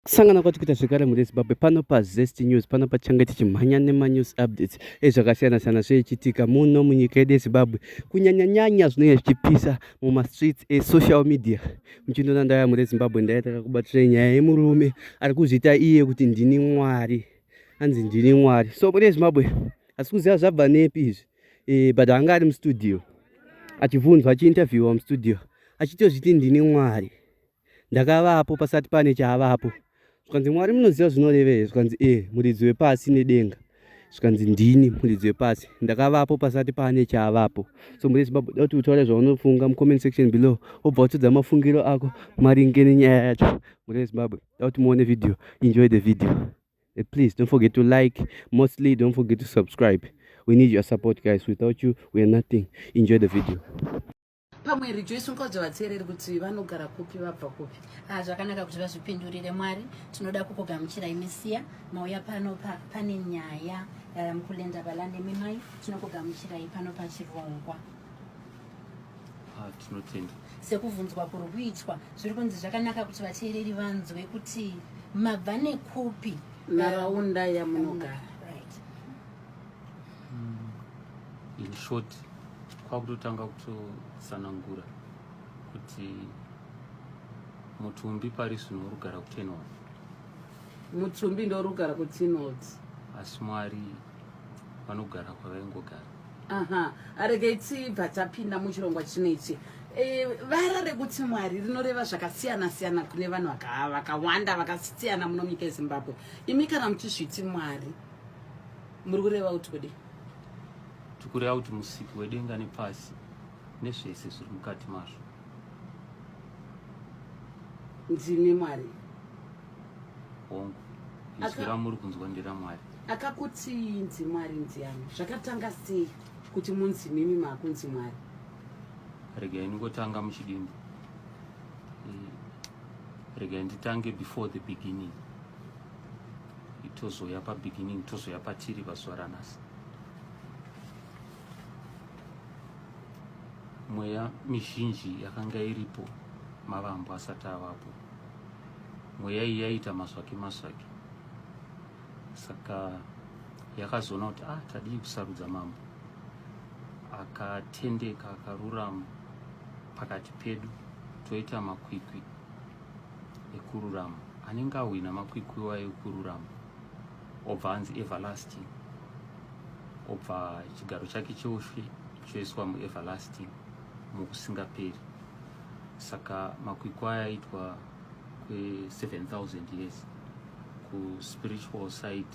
Kusangana kwati kuita zvekare mune Zimbabwe pano pa Zest News pano pachange tichimhanya nema news updates ezvakasiyana siyana zveichitika muno munyika yedu yeZimbabwe kunyanya nyanya zvinenge zvichipisa muma streets e social media muchindona ndaya mune Zimbabwe ndaitaka kubatira nyaya yemurume ari kuzviita iye kuti ndini mwari anzi ndini mwari so mune Zimbabwe asi kuziva zvabva nepi izvi e, but anga ari mustudio achibvunzwa achiinterviewa mustudio achitozviti ndini mwari ndakavapo pasati pane chaavapo zvikanzi mwari munoziva zvinorevei zvikanzi e muridzi wepasi nedenga zvikanzi ndini muridzi wepasi ndakavapo pasati pane chaavapo so muri zimbabwe da kuti utaure zvaunofunga mucomment section below wobva watodza mafungiro ako maringe nenyaya yacho muri vezimbabwe da kuti muone video enjoy the video eh, please don't forget to like mostly don't forget to subscribe we need your support guys without you we are nothing enjoy the video pamwe rejoice ungaudza vateereri kuti vanogara kupi vabva kupi ah, zvakanaka kuti vazvipindurire mwari tinoda kukugamuchirai misiya mauya pano pa, pane nyaya eh, mukulenda balande mimai tinokugamuchirai pano pachirongwa ah, tinotenda sekuvhunzwa kuri kuitwa zviri kunzi zvakanaka kuti vateereri vanzwe kuti mabva nekupi nharaunda yamunogara mm. in short kwakutotanga kutotsanangura kuti mutumbi pari zvino urugara kutenod mutumbi ndorugara kutenod asi mwari vanogara kwavaingogara aha aregei tibva tapinda muchirongwa chino ichi e, vara rekuti mwari rinoreva zvakasiyana siyana kune vanhu vakawanda vakasiyana muno nyika yezimbabwe imi kana muchizviti mwari muri kureva kuti kudii tikureva kuti musiki wedenga nepasi nezvese zviri mukati mazvo ndimi mwari hongu izwi ramuri kunzwa nderamwari akakuti inzi mwari ndiani zvakatanga sei kuti munzi mimi maakunzi mwari rega iningotanga muchidimbu eh, rega nditange before the beginning tozoya pa beginning tozoya patiri pazuva ranhasi mweya mizhinji yakanga iripo mavambo asati avapo mweya iyi yaiita masvaki masvaki saka yakazoona kuti ah tadii kusarudza mambo akatendeka akarurama pakati pedu toita makwikwi ekururama anenge ahwina makwikwiwa ekururama obva anzi everlasting obva chigaro chake cheushe choiswa mueverlasting mukusingaperi saka makwikwa ayaitwa kwe 7000 years kuspiritual side